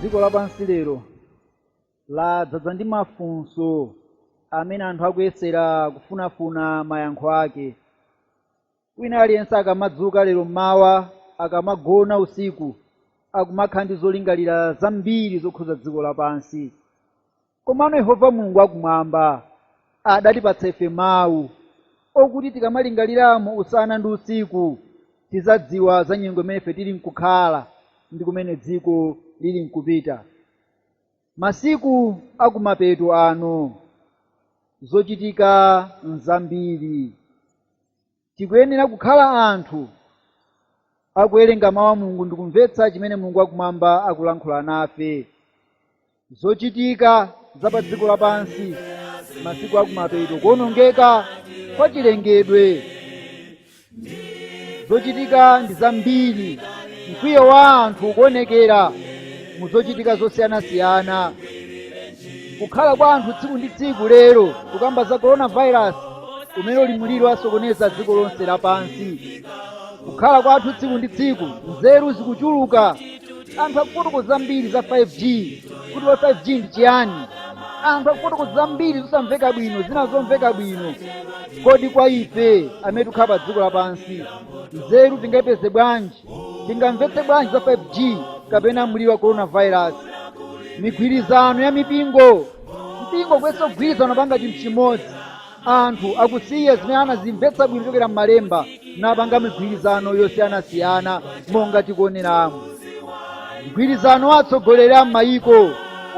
dziko lapansi lero ladzadza ndi mafunso amene anthu akuyesera kufunafuna mayankho ake Wina aliyense akamadzuka lero m'mawa, akamagona usiku, akumakhala ndi zolingalira zambiri zokhuza dziko lapansi. Komano Yehova Mulungu wakumwamba adatipatsa ife mawu okuti tikamalingaliramo usana ndi usiku, tizadziwa za nyengo imene ife tili nkukhala ndi kumene dziko lili nkupita. Masiku akumapeto ano, zochitika nzambiri. tikuyenera kukhala anthu akuwerenga mawu a mulungu ndikumvetsa chimene mulungu wakumwamba akulankhula nafe zochitika za pa dziko lapansi masiku akumapeto kuonongeka kwa chilengedwe zochitika ndi zambiri mkwiyo wa anthu ukuonekera mu zochitika zosiyanasiyana kukhala kwa anthu tsiku ndi tsiku lero tikukamba za coronavirus umene uli mliri wasokoneza dziko lonse lapansi kukhala kwa anthu tsiku ndi tsiku nzeru zikuchuluka anthu akufotokoza zambiri za 5g kuti kodi 5g ndi chiyani anthu akufotokoza zambiri zosamveka bwino zina zomveka bwino kodi kwa ife amene tikukhala pa dziko lapansi nzeru tingayipeze bwanji tingamvetse bwanji za 5g kapena mliri wa coronavirus migwirizano ya mipingo mipingo kuyesa kugwirizana kupanga chinthu chimodzi anthu akusiya zimene anazimvetsa bwino kuchokera m'malemba napanga migwirizano yosiyanasiyana monga tikuoneramu mgwirizano wa atsogoleri a m'mayiko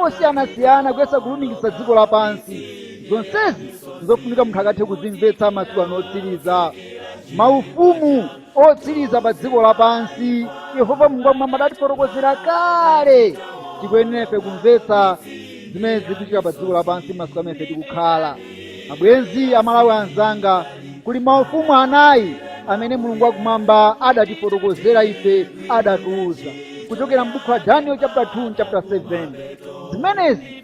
osiyanasiyana kuyesa kulumikiza dziko lapansi zonsezi ndi zofunika munthu akathe kuzimvetsa masiku ano otsiriza maufumu otsiriza pa dziko lapansi yehova mulungu wakumwamba adatifotokozera kale tikuyenera ife kumvetsa zimene zikuchitika pa dziko lapansi masiku amene ife tikukhala abwenzi amalawi anzanga kuli maufumu anayi amene mulungu wakumwamba adatifotokozera ife adatiuza kuchokera m'buku la daniel chapter 2 chapter 7 zimenezi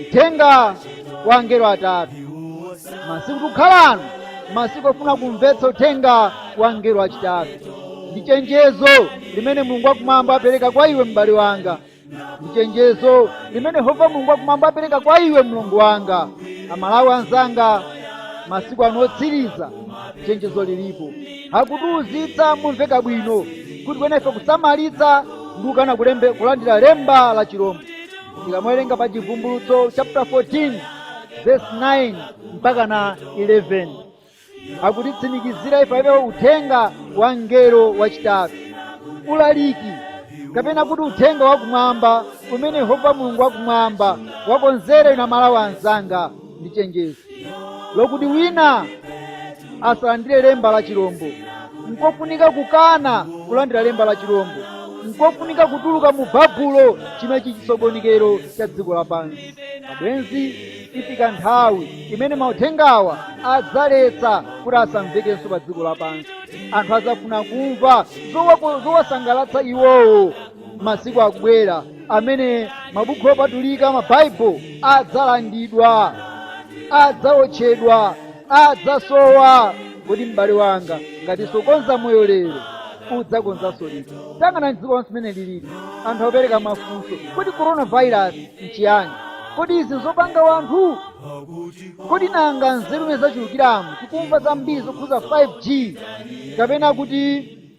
uthenga wa angelo atatu masiku tikukhala ano masiku ofuna kumvetsa uthenga wa angelo achitatu ndi chenjezo limene mulungu wakumwamba apereka kwa iwe m'bale wanga ndi chenjezo limene yehova mulungu wakumwamba apereka kwa iwe mlongo wanga amalawi anzanga masiku ano otsiriza chenjezo lilipo akutiuzitsa momveka bwino kuti tikuyenera ife kusamalitsa ndi kukana kulembe kulandira lemba la chilombo tikamawerenga pa chivumbulutso chapter 14 verse 9 mpaka na 11 akutitsimikizira ife za uthenga wa mngelo wachitatu ulaliki kapena kuti uthenga wakumwamba umene yehova mulungu wakumwamba wakonzera ife amalawi anzanga ndi chenjezo lokuti wina asalandire lemba la chilombo nkofunika kukana kulandira lemba la chilombo nkofunika kutuluka mu babuloni chimene chichisokonekero cha dziko lapansi abwenzi ikufika nthawi imene mauthengawa adzaletsa kuti asamvekenso pa dziko lapansi anthu adzafuna kumva zowasangalatsa iwowo masiku akubwera amene mabuku opatulika mabaibulo adzalandidwa adzawotchedwa adzasowa kodi m'bale wanga ngati sukonza moyo lero udzakonzanso liti tayang'anani dziko lonse mmene lilili anthu akupereka mafunso kodi coronavirus nchiyani kodi izi nzopanga wanthu kodi nanga nzeru mmene zachulukiramu tikumva zambiri zokhuza 5g kapena kuti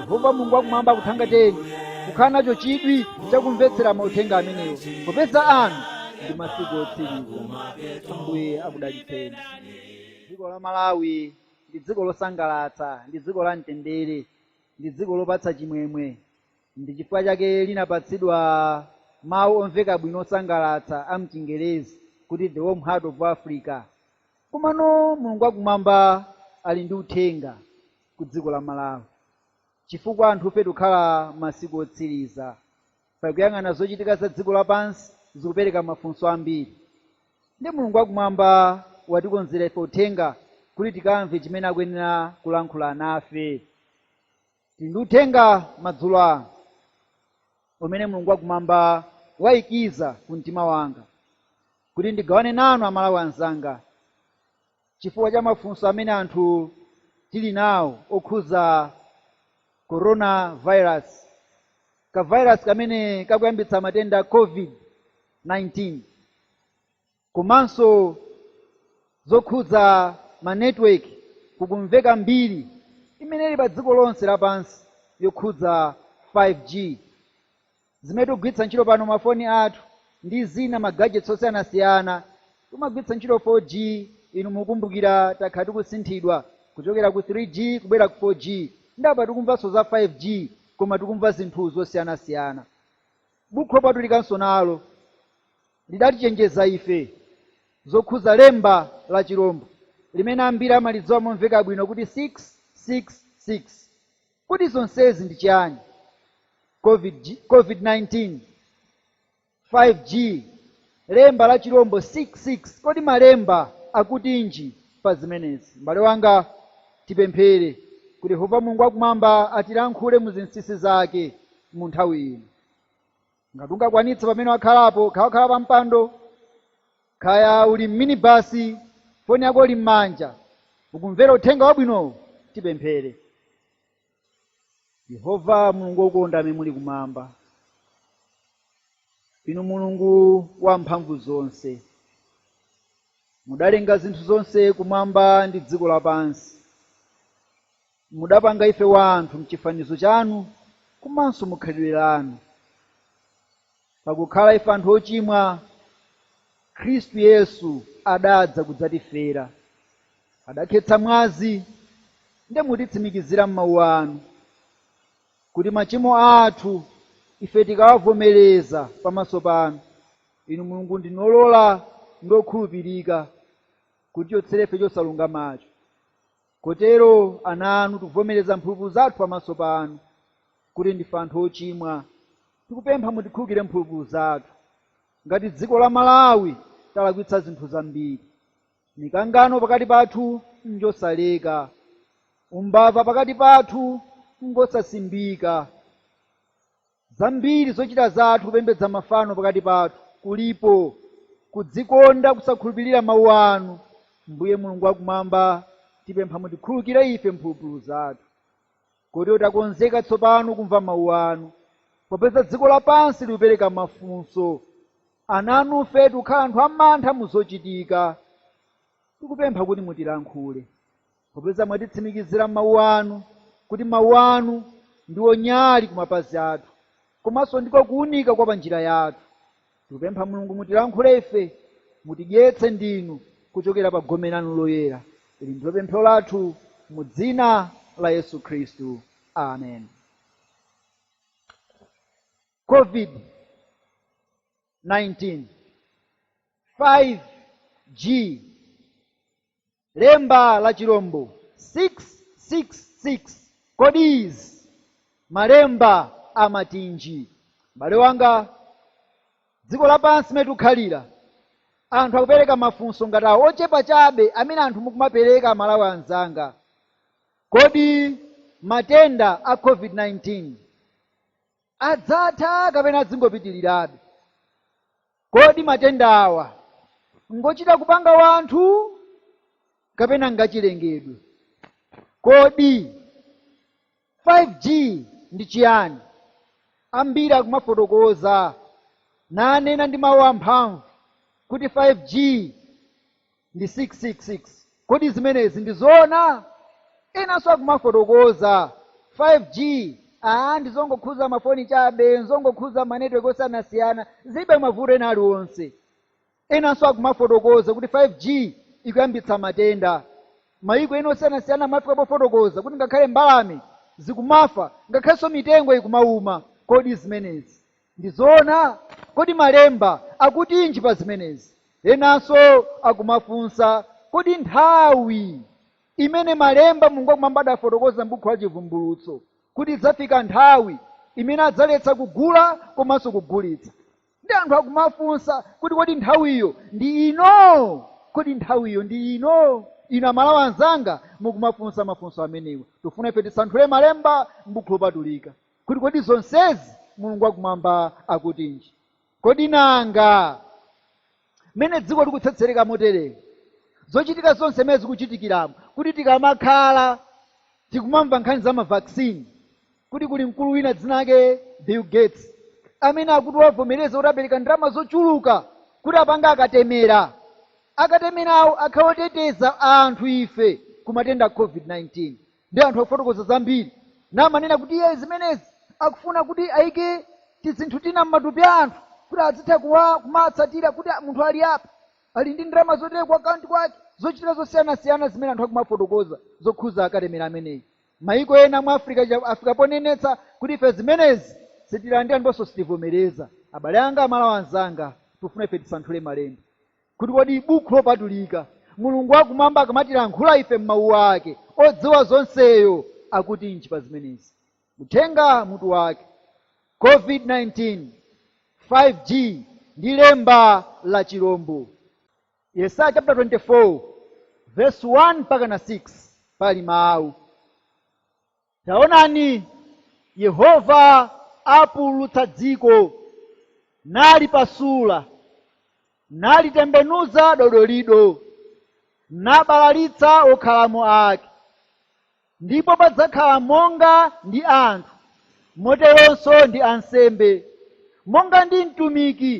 yehova mulungu wakumwamba akuthangatireni kukhala nacho chidwi chakumvetsera mauthenga amenewo popeza ano ndi masiku otsiriza ambuye akudalitseni dziko la malawi ndi dziko losangalatsa ndi dziko la mtendere ndi dziko lopatsa chimwemwe ndi chifukwa chake linapatsidwa mawu omveka bwino osangalatsa a mchingerezi kuti the warm heart of africa komano mulungu wakumwamba ali ndi uthenga kudziko la Malawi chifukwa anthufe tikukhala masiku otsiriza. Pakuyang'ana zochitika za dziko lapansi zikupereka mafunso ambiri. Ndi Mulungu wakumwamba watikonzera ife uthenga kuti tikamve chimene akuyenera kulankhula nafe. Tili ndi uthenga madzulo ano umene Mulungu wakumwamba wayikiza ku mtima wanga kuti ndigawane nanu Amalawi anzanga. chifukwa cha mafunso amene anthu tili nawo okhudza corona virus, ka virus kamene kakuyambitsa matenda a COVID-19, komanso zokhudza ma network kukumveka mbiri imene ili pa dziko lonse lapansi yokhudza 5G. zimene tikugwiritsa ntchito pano mafoni athu ndi zina ma gadgets osiyanasiyana timagwiritsa ntchito 4G inu mukumbukira takhala tikusinthidwa kuchokera ku 3G kubwera ku 4G ndi apa tikumvanso za 5G koma tikumva zinthu zosiyanasiyana bukhu lopatulikanso nalo lidatichenjeza ife zokhuza lemba la chilombo limene ambiri amalidziwa momveka bwino kuti 666 Kodi zonsezi ndi chiyani? Covid, COVID-19, 5G, lemba la chirombo 666. Kodi Malemba akutinji pa zimenezi? M'bale wanga, tipemphere kuti Yehova Mulungu wa Kumwamba atilankhule mu zinsinsi zake mu nthawi ino. ngati ungakwanitse pamene wakhalapo khaya wakhala pa mpando khaya uli mminibasi foni yako ili m'manja ukumvera uthenga wabwinowu tipemphere yehova mulungu wokonda amene muli kumwamba inu mulungu wa mphamvu zonse mudalenga zinthu zonse kumwamba ndi dziko lapansi Mudapanga ife wanthu m'chifanizo chanu komanso mu khalidwe lanu. Pakukhala ife anthu ochimwa, Khristu Yesu adadza kudzatifera. Adakhetsa mwazi ndi mutitsimikizira m'mawu anu kuti machimo athu ife tikawavomereza pamaso panu, Inu Mulungu ndinu wolola ndi wokhulupirika kutichotsera ife chosalungamacho. Kotero, ana anu, tikuvomereza mphulupulu zathu pamaso panu, kuti ndife anthu ochimwa. Tikupempha mutikhulukire mphulupulu zathu. Ngati dziko la Malawi talakwitsa zinthu zambiri. Mikangano pakati pathu njosaleka. Umbava pakati pathu ngosasimbika. zambiri zochita zathu kupembedza mafano pakati pathu kulipo kudzikonda kusakhulupirira mawu anu mbuye mulungu wakumwamba tipempha mutikhulukire ife mphulupulu zathu kotero takonzeka tsopano kumva mawu anu popeza dziko lapansi likupereka mafunso ana anufe tikukhala anthu amantha muzochitika tikupempha kuti mutilankhule popeza mwatitsimikizira m'mawu anu kuti mawu anu ndiwo nyali ku mapazi athu komanso ndiko kuunika kwa panjira yathu tikupempha mulungu mutilankhule ife mutidyetse ndinu kuchokera pa gome lanu loyera ili ndilo pemphero lathu mu dzina la yesu khristu amen covid 19 5g Lemba la chirombo 666, kodi izi, Malemba amatinji? M'bale wanga, dziko lapansi limene tikukhalira, anthu akupereka mafunso ngati awo ochepa chabe amene anthu mukumapereka Amalawi anzanga. Kodi matenda a COVID-19. adzatha kapena azingopitirirabe? Kodi matendawa ngochita kupanga wanthu kapena ngachilengedwe? Kodi 5G ndi chiyani? Ambiri akumafotokoza nanena ndi mawu amphamvu kuti 5G ndi 666 kodi zimenezi ndi zoona enanso akumafotokoza 5g aa ndizongokhuza mafoni chabe nzongokhuza manetiwoki osiyanasiyana zilibe mavuto ena aliwonse enanso akumafotokoza kuti 5g ikuyambitsa matenda mayiko ena osiyanasiyana amafika pofotokoza kuti ngakhale mbalame zikumafa ngakhalenso mitengo ikumauma kodi zimenezi Ndi zoona? Kodi Malemba akutinji pa zimenezi? Enanso akumafunsa, Kodi nthawi imene Malemba, Mulungu Wakumwamba, adafotokoza m'bukhu la Chivumbulutso kuti idzafika nthawi imene adzaletsa kugula komanso kugulitsa? Ndi anthu akumafunsa kuti kodi nthawiyo ndi ino? Kodi nthawiyo ndi ino? Inu Amalawi anzanga mukumafunsa mafunso amenewa, tufuna ife tisanthule Malemba m'Bukhu Lopatulika. kuti kodi zonsezi mulungu wakumwamba akutinji kodi nanga mmene dziko likutsetsereka moteremu zochitika zonse mmene zikuchitikiramu kuti tikamakhala tikumamva nkhani za mavaccine kuti kuli mkulu wina dzina lake bill gates amene akuti wavomereza kuti apereka ndalama zochuluka kuti apange akatemera akatemerawo akhale oteteza anthu ife ku matenda a covid-19 ndi anthu akufotokoza zambiri namanena kuti iye zimenezi akufuna kuti ayike tizinthu tina m'matupi a anthu kuti azitha kuwa- kumatsatira kuti munthu ali apa ali ndi ndalama zotere ku akaunti kwake zochitika zosiyanasiyana zimene anthu akumafotokoza zokhuza akatemera ameneyi mayiko ena mu africa cha- afika ponenetsa kuti ife zimenezi sitilandira ndiponso sitivomereza abale anga amalawi anzanga tifuna ife tisanthule malemba kuti kodi Bukhu Lopatulika, Mulungu wa Kumwamba akamatilankhula ife mu Mawu Ake, Odziwa Zonseyo akutinji pa zimenezi? Uthenga, mutu wake, Covid 19, 5G, ndi lemba la chirombo. Yesaya chaputala 24 vesi 1 mpakana 6 pali Mawu. Taonani, Yehova apululutsa dziko, nalipasula, nalitembenuza dodolido, nabalalitsa okhalamo ake. Ndipo padzakhala monga ndi anthu, moteronso ndi ansembe, monga ndi mtumiki,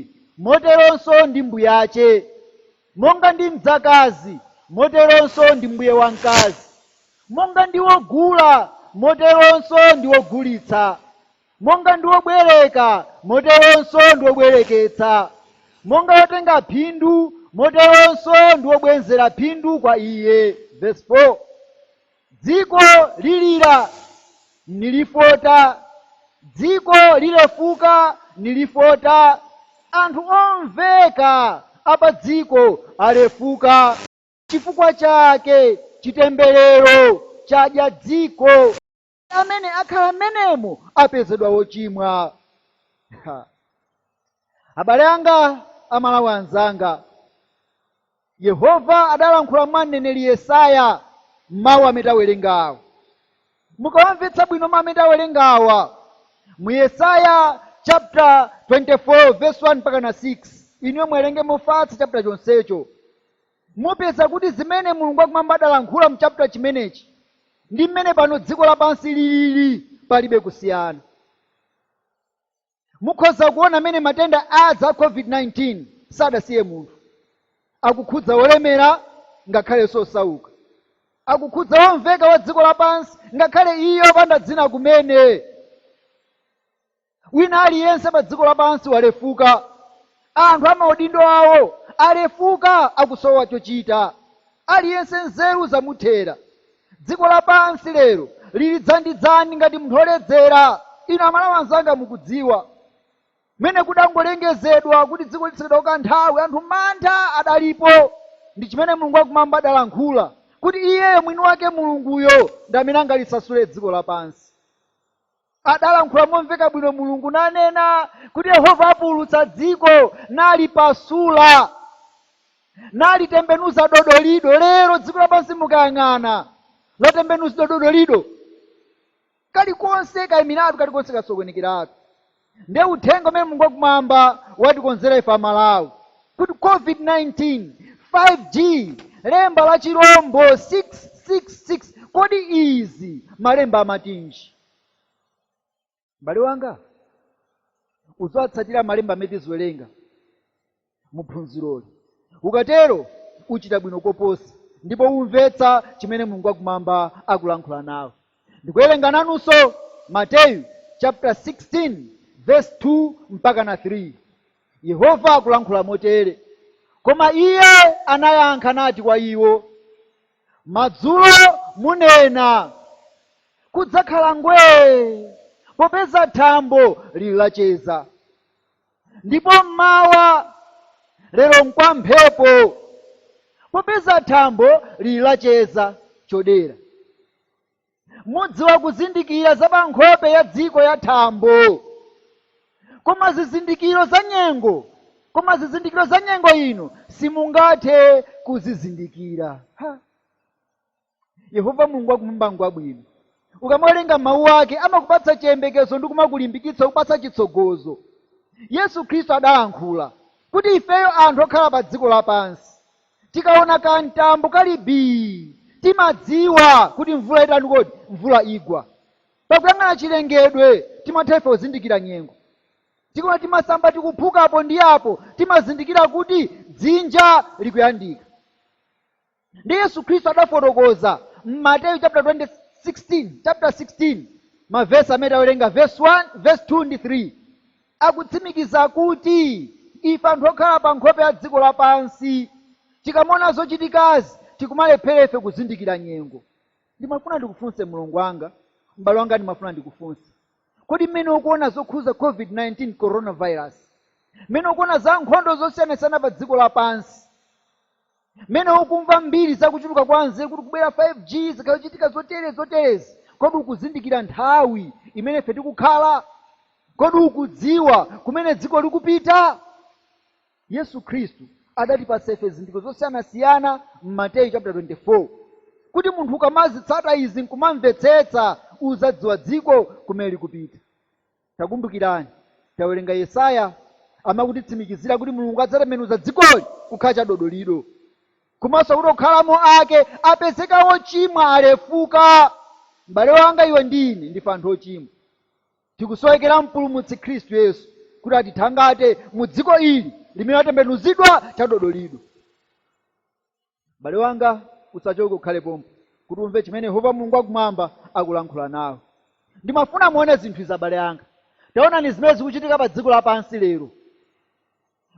moteronso ndi mbuyace. Monga ndi mdzakazi, moteronso ndi mbuye wa mkazi, monga ndi wogula, moteronso ndi wogulitsa, monga ndi wobwereka, moteronso ndi wobwereketsa, monga wotenga phindu, moteronso ndi wobwenzera phindu kwa iye, vesi. Dziko lilira, nilifota, dziko lilefuka, nilifota, anthu omveka a pa dziko alefuka. Chifukwa chake chitemberero chadya dziko, ndi amene akhala m'menemo apezedwa wochimwa. Ha! Abale anga, Amalawi anzanga, Yehova adalankhula mwa mneneri Yesaya m'mawu amene tawerengawa. Mukawamvetsa bwino mawu amene tawerengawa mu Yesaya chapter 24 verse 1 mpaka na 6, inuyo muwerenge mofatsa chapter chonsecho, mupeza kuti zimene Mulungu wakumwamba adalankhula mu chapter chimenechi ndi mmene pano dziko lapansi lilili, palibe kusiyana. Mukhoza kuona mene matenda aja a COVID-19 sadasiye munthu. Akukhudza olemera ngakhalenso osauka. Akukhudza womveka wa dziko lapansi ngakhale iye opanda dzina kumene. Wina aliyense pa dziko lapansi walefuka. Anthu amaudindo awo alefuka akusowa chochita. Aliyense nzeru zamuthera. Dziko lapansi lero lili dzandidzandi ngati mnthu oledzera. Inu amalawi anzanga mukudziwa mmene kudangolengezedwa kuti dziko litsekedwa kwa kanthawi anthu mantha adalipo ndi chimene Mulungu wakumwamba adalankhula kuti iyeyo mwini wake Mulunguyo ndi amene angalisasule dziko lapansi. adalankhula momveka bwino mulungu nanena kuti yehova apululutsa dziko nalipasula nalitembenuza dodolido lero dziko lapansi mukayang'ana latembenuzidwa dodolido kalikonse kaimiratu kalikonse kasokonekeratu nde uthenga umene mulungu wakumwamba watikonzera ife amalawi COVID-19, 5G, lemba la chirombo 666, kodi izi Malemba amatinji? M'bale wanga, uziwatsatira Malemba amene tiziwerenga mu phunziroli. Ukatero uchita bwino koposa ndipo umvetsa chimene Mulungu wakumwamba akulankhula nawe. Ndikuwerenga nanunso Mateyu chapter 16 verse 2 mpaka na 3. Yehova akulankhula motere, Koma iye anayankha nati kwa iwo, Madzulo munena, Kudzakhala ngwee, popeza thambo lili lacheza, ndipo m'mawa, Lero nkwa mphepo, popeza thambo lili lacheza chodera. Mudziwa kuzindikira za pa nkhope ya dziko ya thambo, koma zizindikiro za nyengo, koma zizindikiro za nyengo inu simungathe kuzizindikira. Ha! Yehova Mulungu wakumwamba ngwabwino. Ukamawerenga mawu ake amakupatsa chiyembekezo ndi kumakulimbikitsa kukupatsa chitsogozo. Yesu Khristu adalankhula kuti ifeyo anthu okhala pa dziko lapansi Tikaona kamtambo kali bii, timadziwa kuti mvula itani kodi? Mvula igwa. Pakuyang'ana chilengedwe, timatha ife kuzindikira nyengo. Tikaona timasamba tikuphuka apo ndi apo, timazindikira kuti dzinja likuyandika. Ndiye Yesu Khristu adafotokoza m'Mateyu chapter 20, 16, chapter 16 mavesi amene tawerenga verse 1, verse 2 ndi 3. akutsimikiza kuti ife anthu okhala pa nkhope ya dziko lapansi tikamaona zochitikazi tikumalephera ife kuzindikira nyengo. Ndimafuna ndikufunse mlongo wanga, m'bale wanga ndimafuna ndikufunse. Kodi mmene ukuona zokhudza COVID-19 coronavirus, mmene ukuona za nkhondo zosiyanasiyana pa dziko lapansi, Mmene ukumva mbiri za kuchuluka kwa nzeru kuti kubwera 5G, zikhala zikuchitika zoterezi zoterezi, kodi ukuzindikira nthawi imene ife tikukhala? Kodi ukudziwa kumene dziko likupita? Yesu Khristu adatipatsa ife zizindikiro zosiyanasiyana m'Mateyu chaputala 24 kuti munthu akamazitsata izi nkumamvetsetsa, udzadziwa dziko kumene likupita. Takumbukirani, tawerenga Yesaya amene akutitsimikizira kuti Mulungu adzatembenuza dzikoli kukhala chadodolido, komanso kuti okhalamo ake apezeka ochimwa, alefuka. M'bale wanga, iwe ndi ine ndife anthu ochimwa. Tikusowekera Mpulumutsi Khristu Yesu kuti atithangate mu dziko ili limene latembenuzidwa chadodolido. m'bale wanga usachoke ukhale pompo kuti umve chimene yehova mulungu wakumwamba akulankhula nawe ndimafuna muone zinthu izi abale anga taonani zimene zikuchitika pa dziko lapansi lero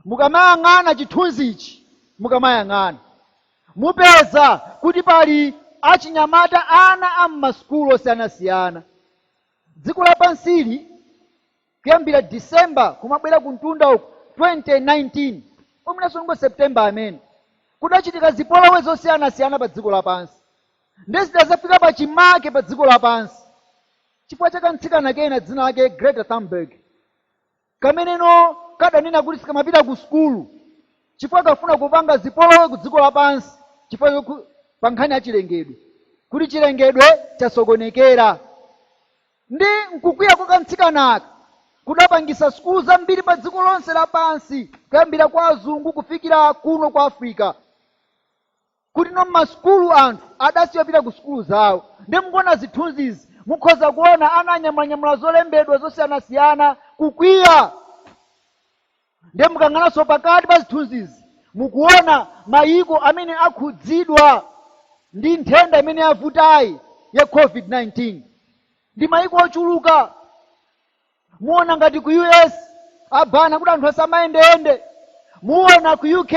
mukamayang'ana chithunzi ichi mukamayang'ana mupeza kuti pali achinyamata ana a m'masukulu osiyanasiyana dziko lapansili kuyambira December kumabwera kumtunda uku 2019 mwinanso ngoti September amene kudachitika zipolowe zosiyanasiyana pa dziko lapansi ndiye zidazafika pa chimake pa dziko lapansi chifukwa cha kamtsikana kena dzina lake Greta Thunberg kameneno kadanena kuti sikamapita ku sukulu chifukwa kafuna kupanga zipolowe ku dziko lapansi chifukwa choku- pa nkhani ya chilengedwe kuti chilengedwe chasokonekera Nde nkukwiya kwa kamtsikanaka kudapangisa sukulu zambiri pa dziko lonse la pansi kuyambira kwa azungu kufikira kuno ku Africa kutino mma sukulu anthu adasiya kupita ku sukulu zawo nde mukuona zithunzizi mukhoza kuona ana anyamulanyamula zolembedwa zosiyanasiyana kukwiya Ndiye mukayang'ananso pakati pa zithunzizi, mukuona mayiko amene akhudzidwa ndi nthenda imene yavutayi ya COVID-19. Ndi mayiko ochuluka. Muona ngati ku US abana kuti anthu asamayendeyende. Muona ku UK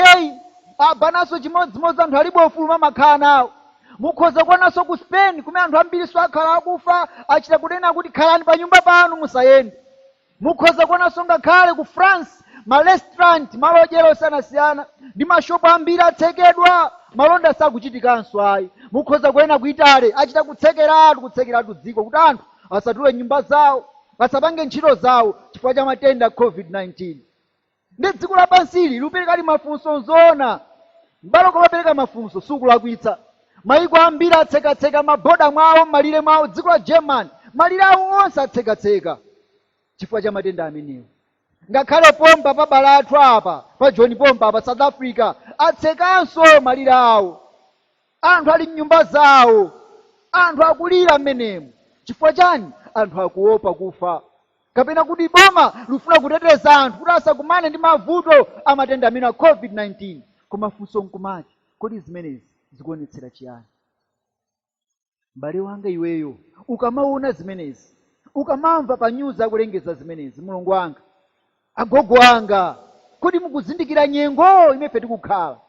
abananso chimodzimodzi anthu alibe ufulu umene amakhala nawo. Mukhoza kuonanso ku Spain kumene anthu ambirinso akhala akufa, achita kunena kuti khalani pa nyumba panu musayende. Mukhoza kuonanso ngakhale ku France ma restaurant, malo odyera osiyanasiyana ndi ma shop ambiri atsekedwa, malonda sakuchitikanso ayi. Mukhoza kuona ku Italy achita kutsekeratu, kutsekeratu dziko kuti anthu asatuluke mnyumba zawo, asapange ntchito zawo chifukwa cha matenda Covid 19. ndi dziko lapansili likuperekadi mafunso nzoona m'bale kumapereka mafunso sukulakwitsa mayiko ambiri atsekatseka maboda mwawo m'malire mwawo dziko la german malire awo onse atsekatseka chifukwa cha matenda amenewa ngakhale pompa pa abale athu apa pa Joni pompa apa south africa atsekanso malire awo anthu ali mnyumba zawo anthu akulira mmenemo chifukwa chani anthu akuopa kufa kapena kuti boma lufuna kuteteza anthu kuti asakumane ndi mavuto a matenda amenewa a covid-19 koma funso nkumati kodi zimenezi zikuonetsera chiyani m'bale wanga iweyo ukamaona zimenezi ukamamva pa nyuzi akulengeza zimenezi mlongo wanga agogo anga kodi mukuzindikira nyengo imene tikukhala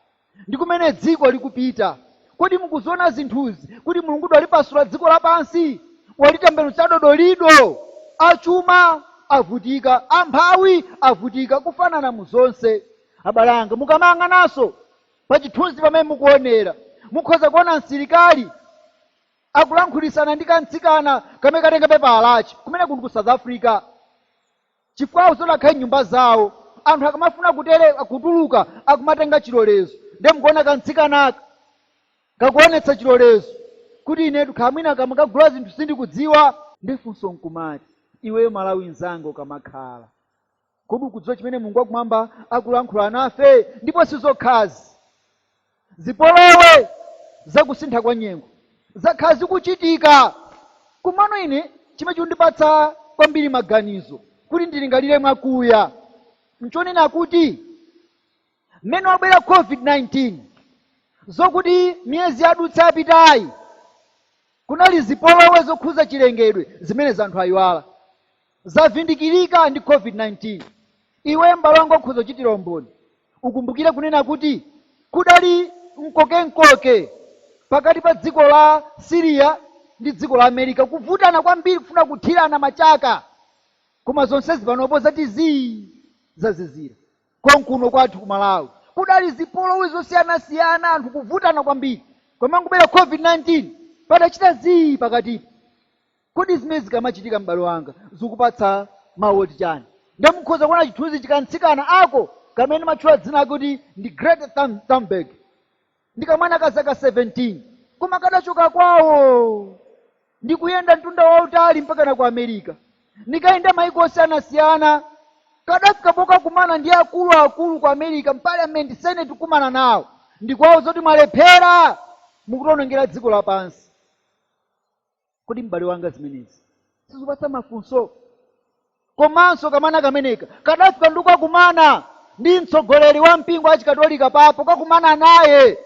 Ndi kumene dziko likupita. Kodi mukuziona zinthuzi kuti Mulungutu walipasula dziko lapansi? Walitembenuza dodolido! Achuma avutika, amphawi avutika, kufanana mu zonse. Abale anga, mukamayang'ananso pa chithunzi pamene mukuonera, mukhoza kuona msilikali akulankhulana ndi kamtsikana kamene katenga pepala lake. Kumeneku ndi ku South Africa. chifukwa akusowa kukhala mnyumba zawo anthu akamafuna kutere kutuluka akumatenga chilolezo nde mukuona kamtsikanaka kakuonetsa chilolezo kuti inetu kaya mwina kamakagula zinthu sindikudziwa nde funso nkumati iweyo mmalawi nzanga ukamakhala kodi ukudziwa chimene mulungu wakumwamba akulankhula nafe ndipo sizokhazi Zipolowe za kusintha kwa nyengo zakhala zikuchitika, komano ine chimene chikundipatsa kwambiri maganizo kuti ndilingalire mwakuya nchonena kuti mmene wabwera COVID-19 zokuti miyezi yadutsa yapitayi kunali zipolowe zokhuza chilengedwe zimene zanthu ayiwala. Zavindikirika ndi COVID-19. Iwe m'bale wanga ukhoza kuchitira umboni. Ukumbukire kunena kuti kudali mkokemkoke pakati pa dziko la Syria ndi dziko la America, kuvutana kwambiri kufuna kuthirana machaka. Koma zonsezi panopo zati zii, zazizira. Konkuno kwathu ku Malawi kudali zipolowe zosiyanasiyana, anthu kuvutana kwambiri. Koma nkubwera COVID-19, padachita zii pakatipo. Kodi zimene zikamachitika m'bale wanga zikupatsa mawu oti chani? Nde mukhoza kuona chithunzi cha kamtsikana ako kamene ndimatchula dzina lake kuti ndi Greta Thun- Thunberg. Ndi kamwana ka zaka 17 koma kadachoka kwawo ndi kuyenda mtunda wautali mpakana ku America. Ndi kuyenda mayiko osiyanasiyana kadafika pokakumana ndi akuluakulu ku America m'parliament senate kukumana nawo ndikuwauza kuti mwalephera mukutionongera dziko lapansi. kodi m'bale wanga zimenezi sizikupatsa mafunso komanso kamwana kameneka kadafika ndi kukakumana ndi mtsogoleri wa mpingo wa chikatolika papa kukakumana naye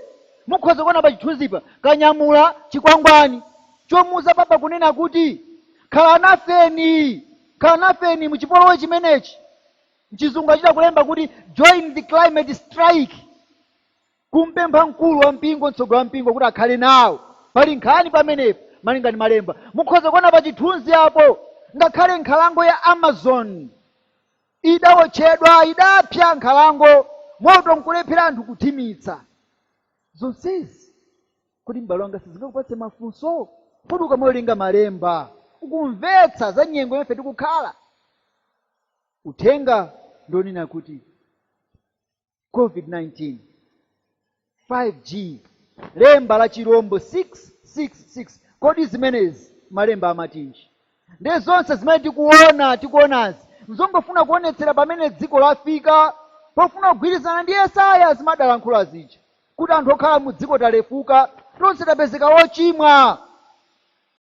mukhoza kuona pa chithunzipa kanyamula chikwangwani chomuuza papa kunena kuti khala nafeni khala nafeni mu chipolowe chimenechi mchizungu achita kulemba kuti join the climate strike Kumpempha mkulu wa mpingo, mtsogoleri wa mpingo kuti akhale nawo. Pali nkhani pamenepo, malinga ndi Malemba. Mukhoza kuona pa chithunzi apo, ngakhale nkhalango ya Amazon idawotchedwa, idapsa nkhalango, moto nkulephera anthu kuthimitsa. Zonsezi, kodi m'bale wanga sizingakupatse mafunso? Kodi ukamawerenga Malemba, ukumvetsa za nyengo yomwe ife tikukhala? Uthenga ndi onena kuti covid-19 5g lemba la chirombo 666 kodi zimenezi malemba amatinji ndiye zonse zimene tikuona tikuonazi nzongofuna kuonetsera pamene dziko lafika pofuna kugwirizana ndi yesaya zimene adalankhula zija kuti anthu okhala mu dziko talefuka tonse tapezeka wochimwa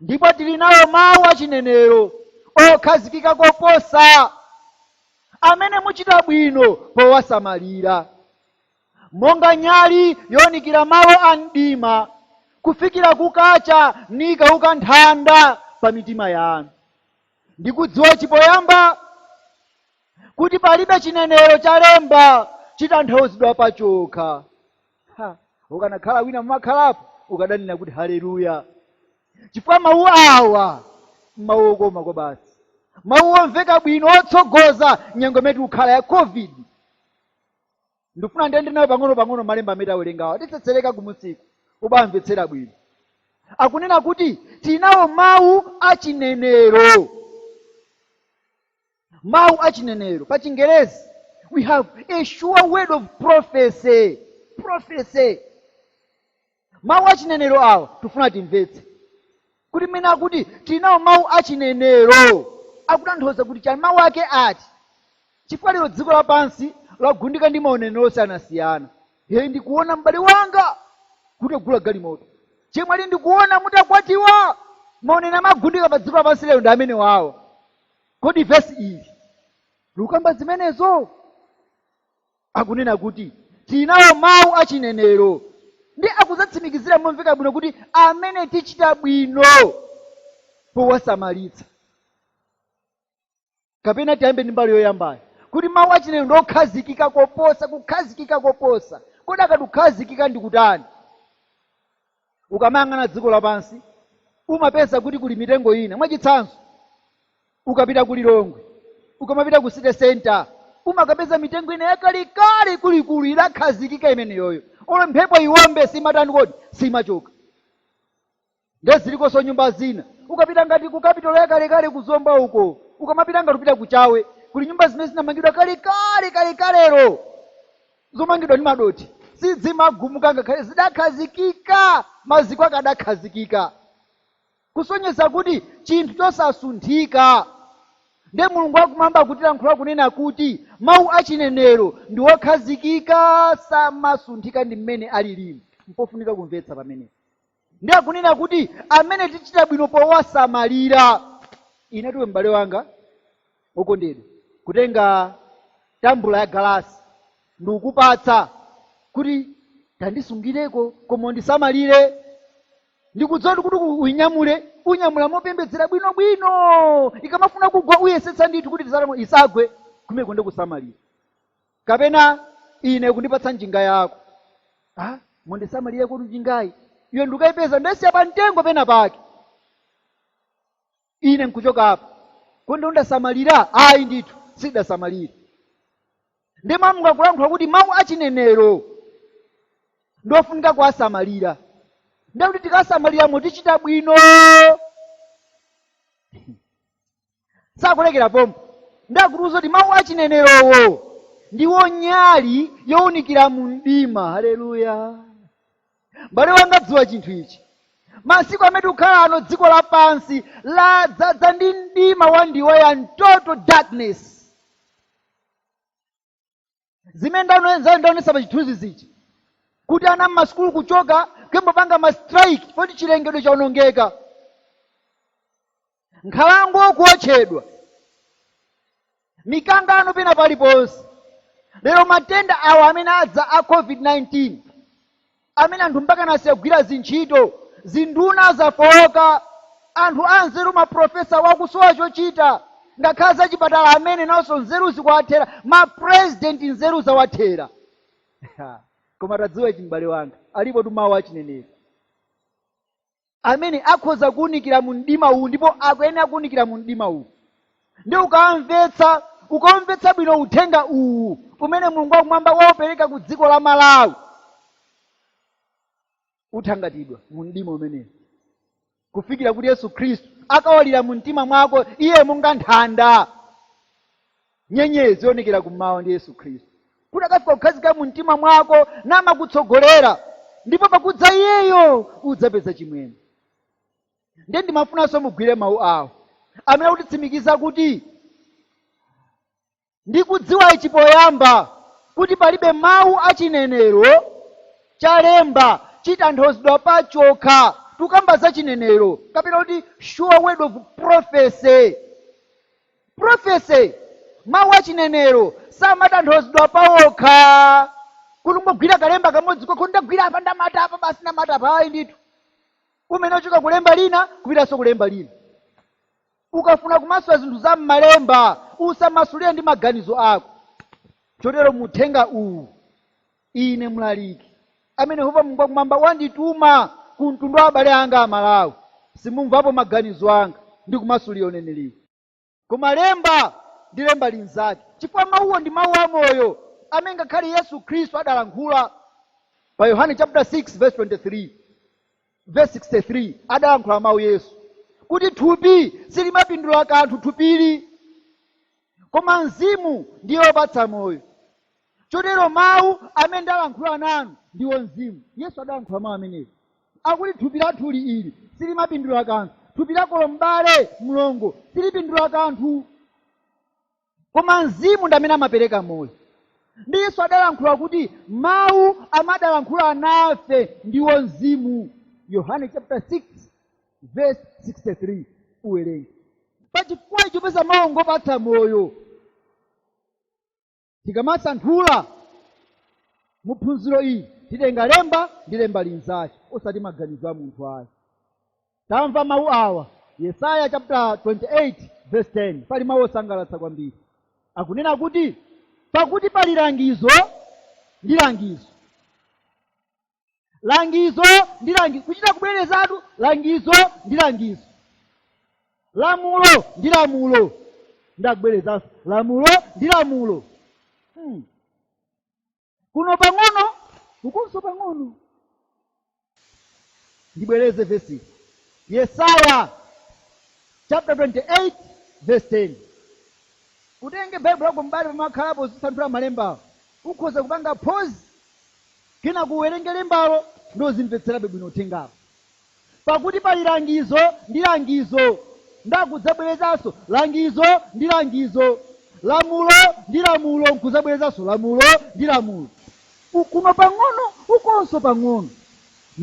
Ndipo tili nawo mawu achinenero okhazikika koposa, amene muchita bwino powasamalira, monga nyali younikira malo a mdima, kufikira kukacha nikauka nthanda pa mitima yanu. Ndi kudziwa ichi poyamba, kuti palibe chinenero cha lemba chitanthauzidwa pachokha. Ha, ukanakhala wina mumakhalapo ukadanena kuti haleluya chifukwa mawu awa mawu okoma kwabasi mawu omveka bwino otsogoza nyengo imene tikukhala ya covid ndikufuna ndiyende nawo pang'ono pang'ono malemba amene tawerengawa titsetsereka kumusiku ubamvetsera bwino akunena kuti tinawo mawu achinenero mawu a chinenero pa chingerezi we have a sure word of prophecy prophecy mawu a chinenero awa tifuna timvetse kuti mmene akuti tili nawo mawu a chinenero akutanthauza kuti chani mawu ake ati chifukwa lero dziko lapansi lagundika ndi maunenero osiyanasiyana iye ndikuona m'bale wanga kuti agula galimoto chemwali ndikuona mutakwatiwa maunenero amagundika pa dziko lapansi lero ndi amenewawa Kodi vesi ili likukamba zimenezo? Akunena kuti tili nawo mawu a chinenero, ndi akudzatsimikizira momveka bwino kuti amene tichita bwino powasamalitsa. Kapena tiyambe ndi mbali yoyambayo kuti mawu a chinenero ndi okhazikika koposa, kukhazikika koposa. Kodi akati kukhazikika ndi kutani? ukamayang'ana dziko lapansi umapeza kuti kuli mitengo ina mwachitsanzo ukapita ku lilongwe ukamapita ku city center umakapeza mitengo ina yakalekale ikuluikulu idakhazikika imeneyoyo olo mphepo iwombe simatani kodi simachoka nde zilikonso nyumba zina ukapita ngati ku kapitolo yakalekale ku zomba uko ukamapita ngati upita ku chawe kuli nyumba zimene zinamangidwa kalekale kalekalero zomangidwa ndi madothi sizimagumuka ngakhale zidakhazikika maziko ake adakhazikika kusonyeza kuti chinthu chosasunthika ndiye mulungu wakumwamba akutilankhula kunena kuti mawu achinenero ndi wokhazikika samasunthika ndi mmene alilimu mpofunika kumvetsa pamenepo Ndi akunena kuti amene tichita bwino powasamalira. Inetu iwe m'bale wanga wokondedwa, kutenga tambula yagalasi ndikukupatsa kuti tandisungireko koma undisamalire, ndikudziwa kuti uinyamule, unyamula mopembedzera bwinobwino. Ikamafuna kugwa uyesetsa ndithu kuti isagwe, kumeneko ndiye kusamalira. kapena ine kundipatsa njinga yako ah, mundisamalire kuti njingayi iyo ndikayipeza ndasiya pa mtengo pena pake ine nkuchoka apa kodi ndasamalira ayi ndithu sidasamalire ndiye mawu akulankhula kuti mawu achinenero ndofunika kuwasamalira ndekuti tikasamalira mutichita bwino sakulekera pomwepo ndiye akutiuza kuti mawu a chinenerowo ndiwo nyali yowunikira mu mdima haleluya mbale wanga dziwa chinthu ichi masiku amene tikukhala ano dziko lapansi ladzadza ndi mdima wandiweyani total darkness zimene ndano- za- ndaonesa pa chithunzithunzi ichi kuti ana mmasukulu kuchoka kuyamba kupanga ma strike poti chilengedwe chaonongeka nkhalango kuotchedwa mikangano pena paliponse lero matenda awa amene adza a covid-19 amene anthu mpakana asiya kugwira zintchito, zinduna zafooka, anthu anzeru ma professor akusowa chochita, ngakhale zachipatala amene nawonso nzeru zikuwathera, ma president nzeru zawathera. Koma tadziwa ichi m'bale wanga, alipotu mawu a chinenero. amene akhoza kuunikira mu mdima uwu ndipo akuyenera kuunikira mu mdima uwu ndiye ukamvetsa ukamvetsa bwino uthenga uwu umene mulungu wakumwamba waupereka ku dziko la malawi uthangatidwa mu mdima umenewu kufikira kuti yesu khristu akawalira mu mtima mwako iye monga nthanda nyenyezi yoonekera kummawa ndi yesu khristu kuti akafika kukhazikika mu mtima mwako namakutsogolera ndipo pakudza iyeyo udzapeza chimwemwe ndiye ndimafunanso mugwire mawu awo amene akutitsimikiza kuti ndikudziwa ichi poyamba kuti palibe mawu a chinenero chalemba chitanthauzidwa pachokha tikukamba za chinenero kapena kuti sure word of prophecy Prophecy, mawu a chinenero, samatanthauzidwa pawokha. Kungogwira kalemba kamodzi kokha, ndagwira apa, ndamata apa, basi ndamata apa. Ayi ndithu. Umayenera kuchoka kulemba lina, kupitanso kulemba lina. Ukafuna kumasula zinthu za m'malemba, usamasulire ndi maganizo ako. Chotero mu uthenga uwu, ine mlaliki amene yehova mulungu wakumwamba wandituma ku mtundu wa abale anga a malawi simumvapo maganizo anga ndikumasulira uneneriwo koma lemba ndi lemba linzake chifukwa mawuwo ndi mawu amoyo amene ngakhale yesu khristu adalankhula pa yohane chapter 6 verse 23 Vesi 63 adalankhula mawu Yesu kuti thupi silimapindula kanthu thupili, koma mzimu ndiye wopatsa moyo. Chotero mawu amene ndalankhula nanu ndiwo mzimu. Yesu adalankhula mawu amenewa akuti thupi lathuli ili silimapindula kanthu, thupi lakolo, m'bale mlongo silipindula kanthu. koma mzimu ndi amene amapereka moyo ndi yesu adalankhula kuti mawu amene adalankhula nafe ndiwo mzimu yohane chapter 6 verse 63 uwerenge pachifukwa icho popeza mawu ngopatsa moyo tikamasanthula mu phunziro ili titenga lemba ndi lemba linzake osati maganizo a munthu ayi Tamva mawu awa, Yesaya chaputala 28 vesi 10. Pali mawu osangalatsa kwambiri, akunena kuti pakuti pali langizo ndi langizo, langizo ndi langizo, kuchita kubwerezatu, langizo ndi langizo, lamulo ndi lamulo, ndi kubwerezanso, lamulo ndi lamulo. Hmm. kuno pang'ono ukonso pang'ono ndibwereze vesi yesaya chapter 28 verse 10 utenge baibulo lako m'bale pomwe wakhalapo uzisanthula malembawo ukhoza kupanga pause kenaka kuwerenge lembalo ndi kuzimvetserabe bwino uthengawo Pakuti pali langizo ndi langizo, ndi kudzabwerezanso langizo ndi langizo, lamulo ndi lamulo, nkudzabwerezanso lamulo ndi lamulo. Ku, kuno pang'ono, ukonso pang'ono.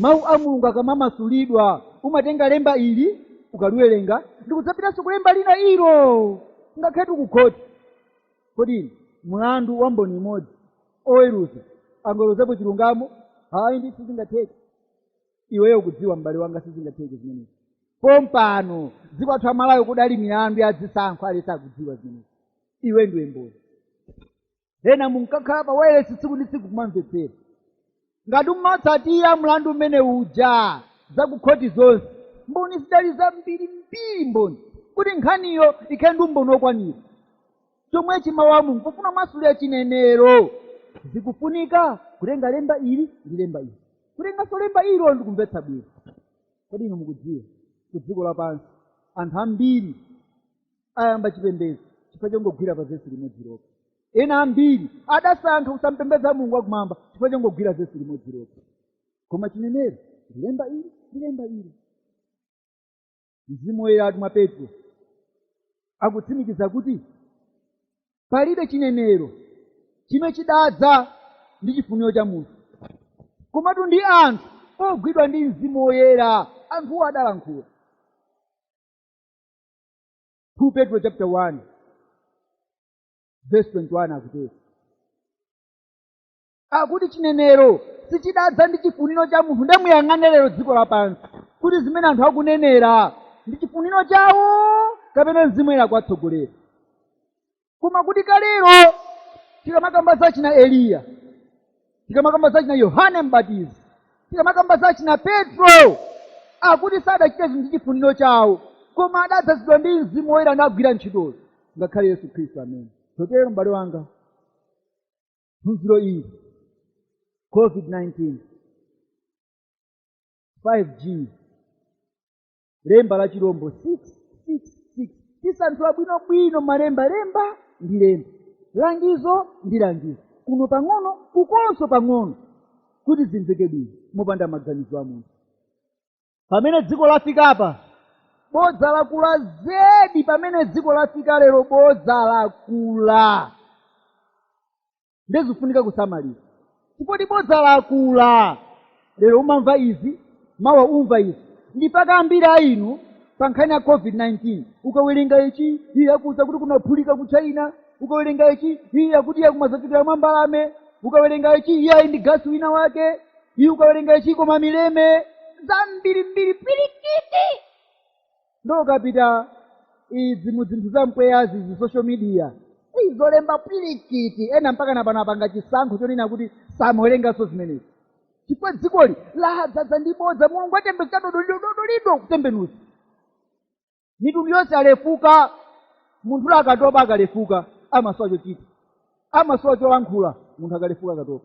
Mawu a Mulungu akamamasulidwa, umatenga Lemba ili, ukaliwerenga, ndi kudzapitanso ku Lemba lina ilo, ngakhaletu ku khoti. Kodi inu, mlandu wa mboni imodzi, oweruza angaweruzapo chilungamo? Ayi, ndi sizingatheke. iweyo ukudziwa m'bale wanga sizingatheke zimenezi pompano dziko lathu la Malawi kudali milandu ya zisankho aliyense akudziwa zimenezi iwe ndiwe mboni ena munkakhala pa wailesi tsiku ndi tsiku kumamvetsera ngati umatsatira mlandu umene uja zakukhoti zonse mboni zidali zambirimbiri mboni kuti nkhaniyo ikhale ndi umboni wokwanira chomwecho mawu a mulungu pofuna kumasulira chinenero zikufunika kutenga lemba ili ndi lemba ili kutenganso lemba ilo ndi kumvetsa bwino kodi inu mukudziwa ku dziko lapansi anthu ambiri ayamba chipembedzo chifukwa chongogwira pa vesi limodzi lokha ena ambiri adasankha kusampembedza mulungu wakumwamba chifukwa chongogwira vesi limodzi lokha koma chinenero ndi lemba ili ndi lemba ili mzimu woyeratu mwa petro akutsimikiza kuti palibe chinenero chimene chidadza ndi chifuniro cha munthu komatu ndi anthu ogwidwa ndi mzimu woyera anthuwo adalankhula 2 petro chapter 1 verse 21 akutero akuti chinenero sichidadza ndi chifuniro cha munthu nde muyang'ane lero dziko lapansi kuti zimene anthu akunenera ndi chifuniro chawo kapena mzimu woyera ukuwatsogolera koma kuti kalero tikamakamba za achina eliya tikamakamba za achina yohane mbatizi tikamakamba za achina petro akuti sadachita zinthu ndi chifuniro chawo koma adadzazidwa ndi mzimu woyera nagwira ntchitozo ngakhale yesu khristu amene chotero m'bale wanga phunziro ili covid-19 5g lemba la chilombo 666 tisanthula bwinobwino malemba lemba ndi lemba langizo ndi langizo kuno pang'ono kukonso pang'ono kuti zimveke bwino mopanda maganizo a munthu pamene dziko lafikapa bodza lakula zedi pamene dziko lafika lero bodza lakula ndezifunika kusamalira ndipotu bodza lakula lero umamva izi mawa umva izi ndi mpaka ambiri a inu pa nkhani ya covid-19 ukawerenga ichi iye akuuza kuti kunaphulika ku china ukawerenga ichi iye akuti iye kumafalikira mwa mbalame ukawerenga ichi iyayi ndi gasi wina wake iye ukawerenga ichi koma mileme zambirimbiri pirikiti nde ukapita izi mu zinthu za mpweyazi izi social media Ei, zolemba pirikiti ena mpaka napano apanga chisankho chonena kuti samawerenganso zimenezi chifukwa dzikoli ladzadza ndi bodza mulungu atembenuza dodolido dodolido kutembenuza mitundu yonse alefuka munthu uja akatopa akalefuka amasowa chochita amasowa cholankhula munthu akalefuka akatopa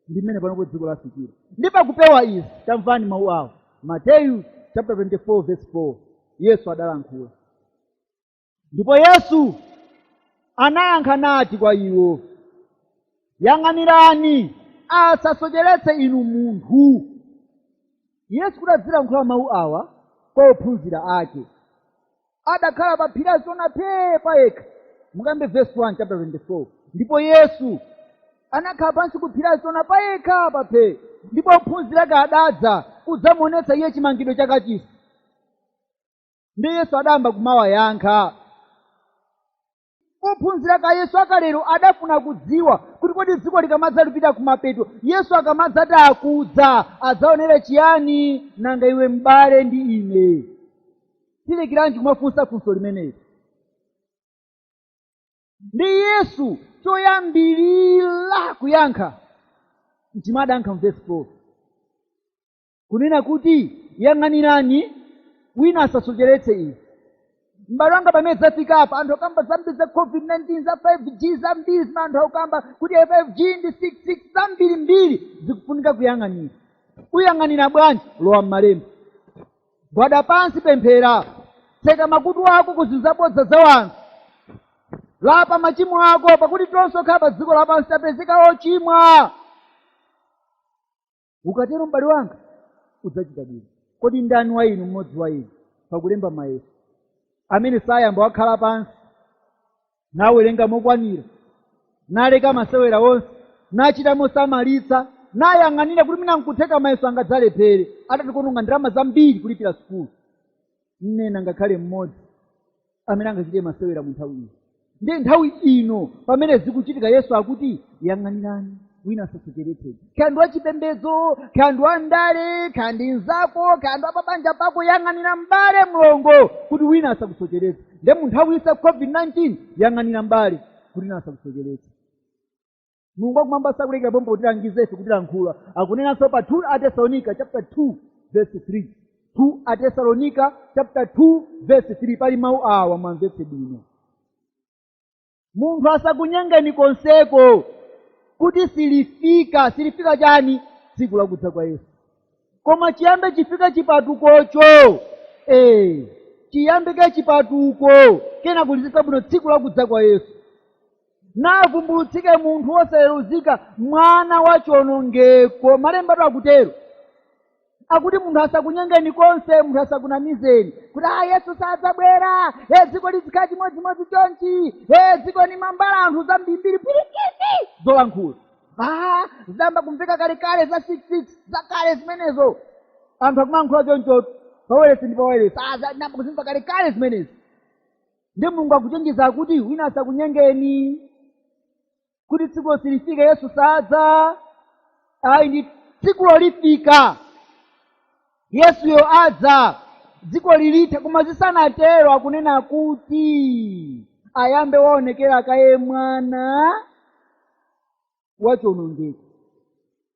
ndi mmene panopo dziko lafikira ndi pakupewa izi tamvani mawu awo mateyu chapter 24 verse 4 yesu adalankhula ndipo yesu anayankha nati kwa iwo yang'anirani asasocheretse inu munthu yesu kuti adzilankhula mawu awa kwa ophunzira ake adakhala pa phiri la azitona phee pa yekha mukayambe verse 1 chapter 24 ndipo yesu anakhala pansi ku phiri la azitona pa yekha pa phee ndipo ophunzira ake adadza kudzamuonetsa iye chimangidwe cha kachisi ndiye yesu adayamba kumawayankha ophunzira a yesu akalero adafuna kudziwa kuti kodi dziko likamadzapita kumapeto yesu akamadzati akudza adzaonera chiyani nanga iwe mbale ndi ine tilekeranji kumafunsa funso limeneli ndi yesu choyambirira kuyankha chimene adayankha mu vesi 4 kunena kuti yang'anirani wina asasocheretseni izi m'bale wanga pamene zafika apa anthu akamba zambiri za covid-19 za 5g zambiri zimene anthu akukamba kuti 5g ndi 66 zambirimbiri zikufunika kuyang'anira kuyang'anira bwanji lowa m'malemba gwada pansi pemphera tseka makutu ako ku zinthu zabodza za wanthu lapa machimo ako pakuti tonse okhala pa dziko lapansi tapezeka ochimwa ukatero mbale wanga udzachita bwino kodi ndani wa inu mmodzi wa inu pakulemba mayeso amene sayamba wakhala pansi nawerenga mokwanira naleka masewera onse nachita mosamalitsa nayang'anira kuti mwina nkutheka mayeso angadzalephere atationonga ndalama zambiri kulipira sukulu palibe ngakhale mmodzi amene angachite masewera mu nthawi iyo ndiye nthawi ino pamene zikuchitika yesu akuti yang'anirani wina asasocheretseni kaya ndi wachipembedzo kaya ndi wandale kaya ndi mzako kaya ndi wapabanja pako yang'anira mbale mlongo kuti wina asakusocheretse nde mu nthawi iyi ya covid-19 yang'anira mbale kuti wina asakusocheretse mulungu wakumwamba sakulekera pompo kutilangiza ife kutilankhula akunenanso pa 2 atesalonika chapter 2 verse 3 2 atesalonika chapter 2 verse 3 pali mawu awa mwamvetse bwino munthu asakunyengeni konseko kuti silifika silifika chani tsiku lakudza kwa yesu koma chiyambe chafika chipatukocho ee chiyambe kaye chipatuko kenako lidziza bwino tsiku lakudza kwa yesu navumbulutsike munthu wosayeruzika mwana wa chionongeko malembatu akutero akuti munthu asakunyengeni konse munthu asakunamizeni kuti a yesu sadzabwera e dziko lizikhala chimodzimodzi chonchi e dziko ndi la mbala anthu zambirimbiri pwirikiti zolankhula a zidayamba kumveka kalekale za six six zakale zimenezo anthu akumalankhula chonchotu paweresi ndi paweresi a zidayamba kuzimva kalekale zimenezi nde mulungu akuchenjeza kuti wina asakunyengeni kuti tsikulo silifika yesu sadza ayi ndi tsikulo lifika yesuyo adza dziko lilitha koma zisanatero akunena kuti ayambe waonekera kaye mwana wachonongeko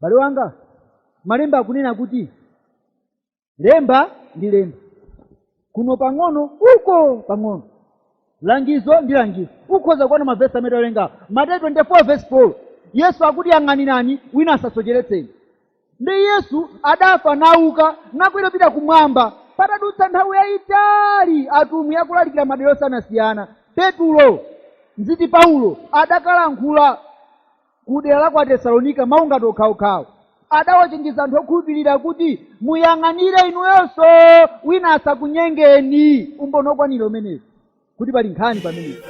bale wanga malemba akunena kuti lemba ndi lemba kuno pang'ono uko pang'ono langizo ndi langizo ukhoza kuona mavesi amene tawerenga mateyu 24 vesi 4 yesu akuti yang'anirani wina asasocheretseni ndi yesu adafa nauka nakwera pita kumwamba patadutsa nthawi yayitali atumwi akulalikira madera osiyanasiyana petulo ndithu paulo adakalankhula ku dera la ku Atesalonika mawu ngati okhawokhawo. Adawachenjeza anthu okhulupirira kuti muyang'anire inuyonso wina asakunyengeni. Umboni wokwanira umenewu kuti pali nkhani pamenepo.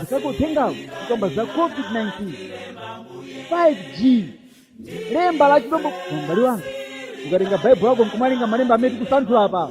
Msako uthengawo kukamba za COVID-19, 5G, lemba la chilombo. Mbale wanga ukatenga Baibulo lako nkumawerenga malemba amene tikusanthula apa